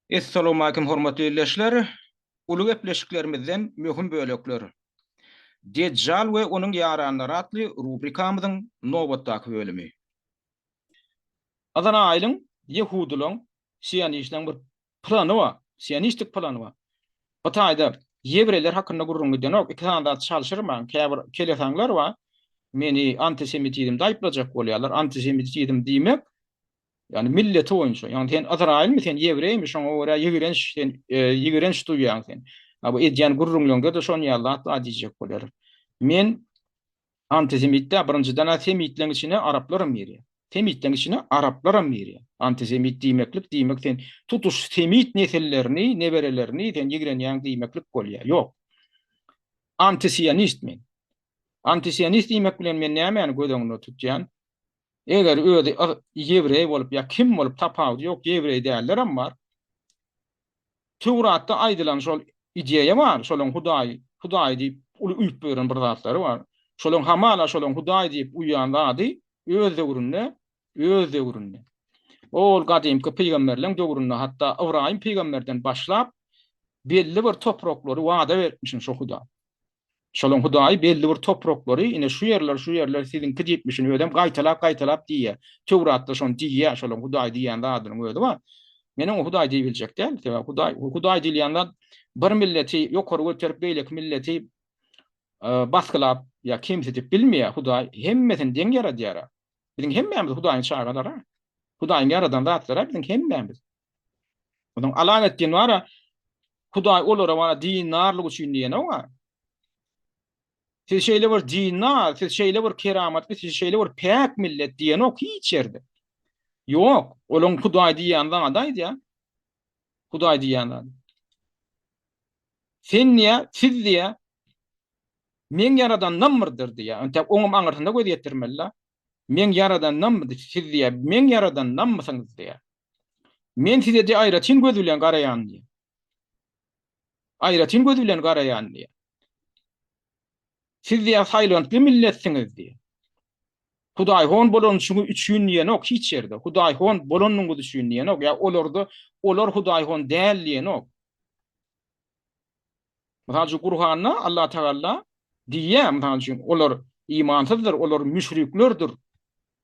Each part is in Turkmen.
Essalawmalikim hormatly ildeşler! Uly gepleşiklerimizden möhüm bölekler. Dejjal we onuň ýaranlary atly rubrikamyzyň nobatdaky bölümi. Yzraýylyň, ýehudylaryň, sionistlaryň bir plany bar, sionistik plany bar. Bu taýda ýewreýler hakynda gürrüň gidenok, iki sany zat çalşyrmaň, käbir kelesaňlar bar, meni antisemitizmde aýyplajak bolýarlar, antisemitizm diýmek, Ýagny milleti boýunça. Ýagny sen Ysraýylmy, sen ýewreými, şoňa görä ýigrenç, sen ýigrenç duýýaň sen. Ha bu edýän gürrüňleňde-de şon ýaly zat bar diýjek bolar. Men antisemitde birinjiden-ä semitleň içine araplaram girýär. Semitleň içine araplaram girýär. Antisemit diýmeklik diýmek sen tutuş semit nesillerini, neberelerini sen ýigrenýäň diýmeklik bolýar. Ýok. Antisionist men. Antisionist diýmek bilen men nämäni göz öňünde tutýan? Eger özi ýewreý bolup ýa kim bolup tapawudy ýok ýewreý dällerem bar. Töwratda aýdylan şol ideýa bar, şolaň hudaýy, hudaýy diýip uly uýup ýören bir zatlary bar. Şolaň hamala şolaň hudaýy diýip uýýan zady öz döwründe, öz döwründe. Ol gadymky pygamberleň döwründe hatda Ybraýym pygamberden başlap belli bir topraklary wada beripmişin şo huda. Şolaň Hudaýy belli bir topraklary, ine, şu ýerler, şu ýerler siziňki diýipmişin, özem gaýtalap-gaýtalap diýýär. Töwratda şony diýýär, şolaň Hudaý diýýän zadynyň özi bar. Men oňa Hudaý diýip biljek däl. Sebäbi Hudaý, Hudaý diýilýän zat bir milleti ýokary göterip, beýleki milleti basgylap ýa kemsidip bilmeýär. Hudaý hemmesini deň ýaradýar-a. Biziň hemmämiz Hudaýyň çagalary-a. Hudaýyň ýaradan zatlary-a biziň hemmämiz. Onuň alan etdiýen bara Hudaý olara bara dinarlyk üçin diýeni o. Siz şeýle bir dinar, siz şeýle bir keramatly, siz şeýle bir päk millet diýeni ok hiç ýerde. Ýok, olaň Hudaý diýýän zady aýdýar. Hudaý diýýän zady. Sen diýä, siz diýä, men yaradandan birdir diýä. Ýöne oňam aňyrsyna göz ýetirmeli. Men yaradandan birdir, siz diýä, men yaradandan mısınız diýä. Men size-de aýratyn göz bilen garaýan diýýär. Aýratyn göz bilen garaýan diýýär. Siz diýýär saýlantly milletsiňiz diýýär. Hudaýhon bolanyşyňyz üçin diýenok hiç ýerde. Hudaýhon bolanyňyz üçin diýenok. Ýa olarda olar Hudaýhon däl diýenok. Mysal üçin, Gurhanda Allatagala diýýär, mysal üçin, olar imansyzdyr, olar müşriklerdir,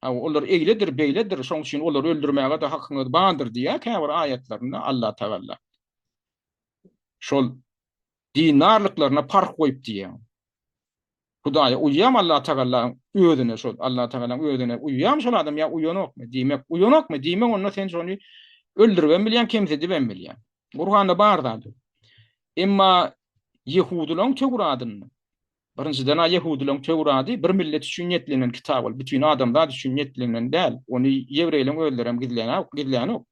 olar eýledir, beýledir, şonuň üçin olary öldürmäge-de hakyňyz bardyr diýýär käbir aýatlarynda Allatagala. Şol dindarlyklaryna parh goýup diýýär. Hudaýa uýýam Allatagalaň özüne şol Allatagalaň özüne uýýam şol adam ýa uýanokmy diýmek uýanokmy diýmek onda sen şony öldüribem bilýäň kemsidibem bilýäň Gurganda bar zat emma Ýehudylaň töwradynda Birinjiden a Ýehudylaň töwrady bir millet üçin niýetlenen kitap ol bütin adamzat üçin niýetlenen däl ony ýewreýleň özlerem gizlänok gizlänok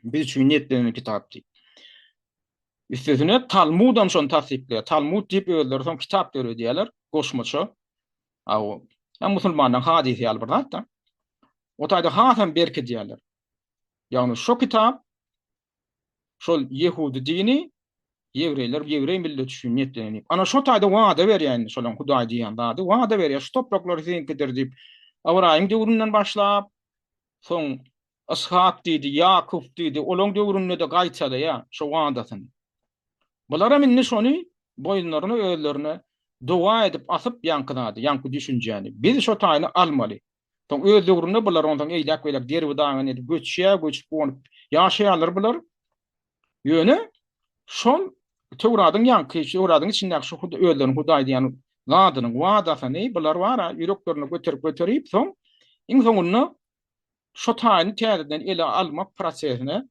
Biz üçin niýetlenen kitap diýip. Üstesine Talmudam şony tassyklaýar. Talmud diýip özleri soň kitap döredýärler, goşmaça. Aw, ya musulmanlaryň hadysy ýaly bir zat da. O taýda hasam berkidýärler. Ýagny şu kitap şol ýehudi dini ýewreýler, ýewreý millet üçin niýetlenen diýip. Ana şu taýda wada berýän şolaň Hudaý diýen zady, wada berýär, şu topraklar siziňkidir diýip. Abraýyň döwründen başlap, soň Yshak diýdi, Ýakup diýdi, olaň döwründe-de gaýtalaýar şo wadasyny. Bularam indi şony boýunlaryna özlerine doga edip asyp ýaňky zady, ýaňky düşünjäni, biz şo taýyny almaly. Soň öz döwründe bular onsoň eýläk-beýläk derbi-dagyn edip göçýär, göçüp gonup ýaşaýarlar bular. Ýöne şol Töwradyň ýaňky, Töwradyň içindäki şo özleriniň Hudaý diýen zadynyň wadasyny bular bar-a ýüreklerine göterip-göterip soň iň soňunda Şo taýyny täzeden ele almak prosesine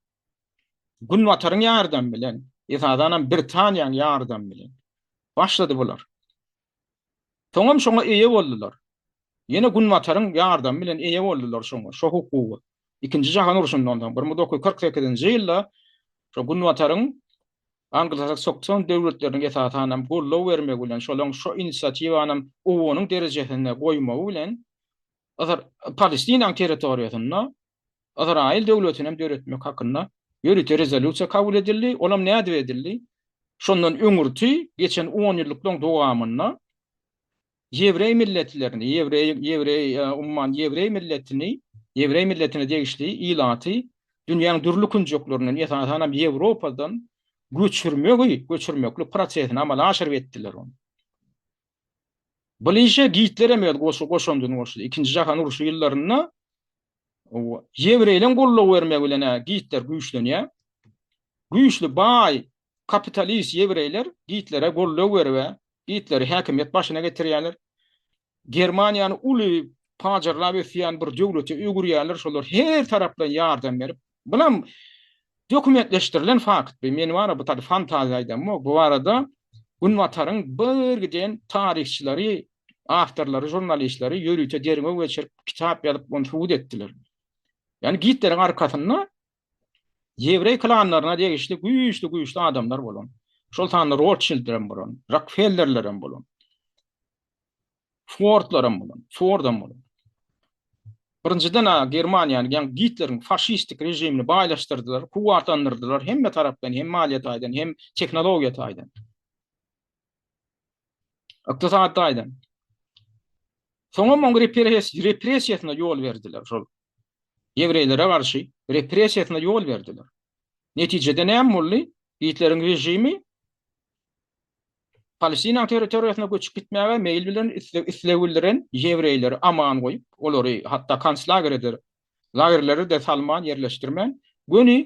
Günbataryň ýardamy bilen, esasanam Britaniýaň ýardamy bilen başlady bular. Soňam şoňa eýe boldular. Ýene Günbataryň ýardamy bilen eýe boldular şoňa, şo hukuga. Ikinji jahan urşundan soň, bir müň dokuz ýüz kyrk sekizinji ýylda şo Günbataryň anglosaksokson döwletleriniň esasanam goldaw bermegi bilen, şolaryň şo inisiatiwanam OON-yň derejesinde goýmagy bilen, Yzar, Palestinanyň territoriýasynda Ysraýyl döwletini hem döretmek hakynda ýörite rezolýusiýa kabul edildi. Ol hem nädip edildi? Şondan öňürti geçen onýyllyklaryň dowamynda ýewreý milletlerini, ýewreý, ýewreý, umuman, ýewreý milletini, ýewreý milletine degişli ilaty dünýäniň dürli künjeklerinden, esasan hem Ýewropadan göçürmegi, göçürmeklik prosesini amala aşyryp etdiler ony. Bilinçli Gitler hem öz goşandyny goşdy. Ikinji jahan urşy ýyllarynda ýewreýleriň goldaw bermegi bilen Gitler güýçlenýär. Güýçli, baý, kapitalist ýewreýler Gitlere goldaw berip, Gitleri häkimiýet başyna getirýärler. Germaniýany uly pajarlap ösýän bir döwlete öwürýärler. Şolar her tarapdan ýardam berip, Bulam dokumentleşdirilen fakt. Bu men wara bu taýda fantaziýa aýdamok. Bu barada Günbataryň bir giden taryhçylary, awtorlary, žurnalistleri ýörite derňew geçirip, kitap ýazyp, ony subut etdiler. Ýani Gitleriň arkasynda ýewreý klanlaryna degişli güýçli-güýçli adamlar bolan. Şol sanda Rotşildler hem bolan, Rokfellerler hem bolan. Swordlaram bolan, swordam bolan. Birinjiden a Germaniýany, ýagny Gitleriň faşistik režimini baýlaşdyrdylar, kuwwatlandyrdylar hemme tarapdan, hem maliýe taýdan, hem tehnologiýa taýdan. Ykdysady taýdan. Soňam oň repressiýasyna ýol berdiler şol. Ýewreýlere garşy repressiýasyna ýol berdiler. Netijede näme boldy? Gitleriň režimi Palestinaň territoriýasyna göçüp gitmäge meýil bilen isleg bildiren ýewreýleri aman goýup, olary hatda konslagerede lagerlere-de salman, ýerleşdirmän, göni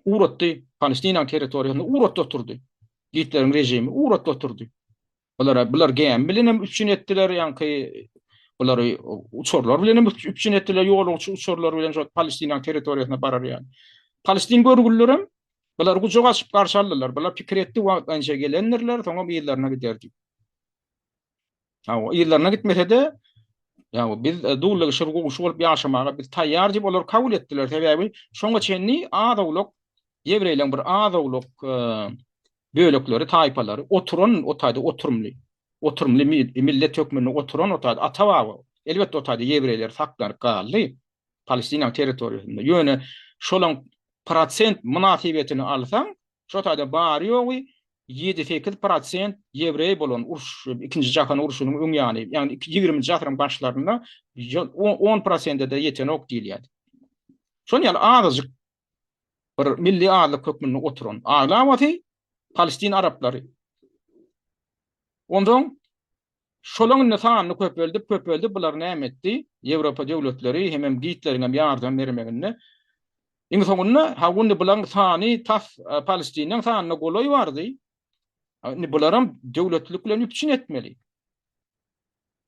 ugrutdy, Palestinaň territoriýasyna ugrutdy oturdy. Gitleriň režimi ugrutdy oturdy. Bulara bular gämi bilen hem üpjün etdiler, ýaňky bulary uçarlar bilen hem üpjün etdiler, ýolagçy uçarlar bilen şol Palestinanyň territoriýasyna barar ýaly. Palestin görgüliler hem bular gujak açyp garşy aldylar. Bular pikir etdi wagtlaýynça gelendirler, soňra ýerlerine giderdi. Ha, o ýerlerine gitmese-de, ýa biz e, dullygy şur gowşy bolup ýaşamaga biz taýýar diýip olar kabul etdiler. Sebäbi şoňa çenli az-owlak ýewreýleň bir az-owlak e, bölekleri, taýpalary, oturan o taýda oturymly, oturymly millet hökmünde oturan o taýda ata-baba, elbetde o taýda ýewreýler saklanyp galdy, Palestinanyň territoriýasynda, ýöne şolaň prosent mynasybetini alsaň, şo taýda bary-ýogy ýedi-sekiz prosent ýewreý bolan uruş, ikinji jahan urşunyň öň ýany, ýagny ýigriminji asyryň başlarynda on prosente-de ýetenok diýilýärdi. Şonuň ýaly azajyk bir milli azlyk hökmünde oturan aglabasy palestin araplary. Onsoň şolaň indi sanyny köpeldip, köpeldip bular näme etdi? Ýewropa döwletleri hemem Gitleriňem ýardam bermeginde iň soňunda ha indi bulaň sany tas palestiniň sanyna golaý bardy. Indi bularam döwletlilik bilen üpjün etmeli.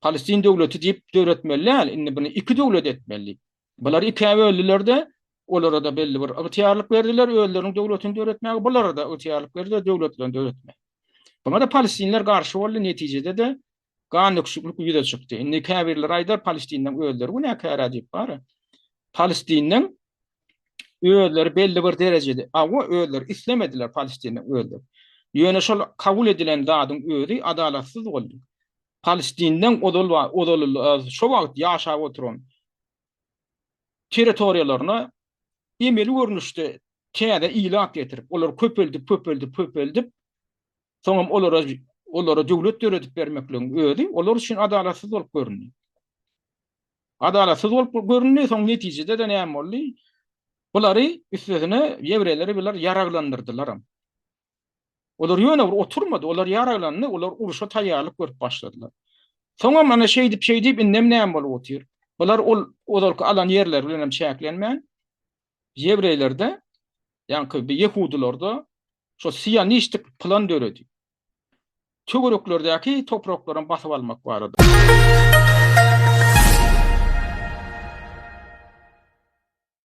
Palestin döwleti diýip döretmeli däl, indi bunu iki döwlet etmeli. Bular ikä böldüler-de, olara-da belli bir ygtyýarlyk berdiler, özleriniň döwletini döretmäge, bulara-da ygtyýarlyk berdiler, döwletlerini döretmäge. Buňa-da palestinler garşy boldy, netijede-de gan döküşiklik ýüze çykdy. Indi käbirleri aýdar, palestinleň özleri günäkär-ä diýip, bara. Palestiniň özleri belli bir derejede, awa, özleri islemediler Palestinliň özleri. Ýöne şol kabul edilen zadyň özi adalatsyz boldy. Palestinliň ozal we ozal şo wagt ýaşap oturan territoriýalaryna emeli görnüşde täze ilat getirip, olar köpeldip, köpeldip, köpeldip, soňam olara olara döwlet döredip bermekligiň özi olar üçin adalatsyz bolup göründi. Adalatsyz bolup göründi, soň netijede-de näme boldy? Bulary üstesine ýewreýleri bular ýaraglandyrdylaram. Olar ýöne bir oturmady, olar ýaraglandy, olar uruşa taýýarlyk görüp başladylar. Soňam ana şeýdip şeýdip indem näme bolup otyr? Bular ol ozalky alan ýerleri bilen hem çäklenmän ýewreýlerde, ýaňky ýehudylarda şo sionistlik plan döredi. töwereklerdäki topraklaryň basyp almak barada.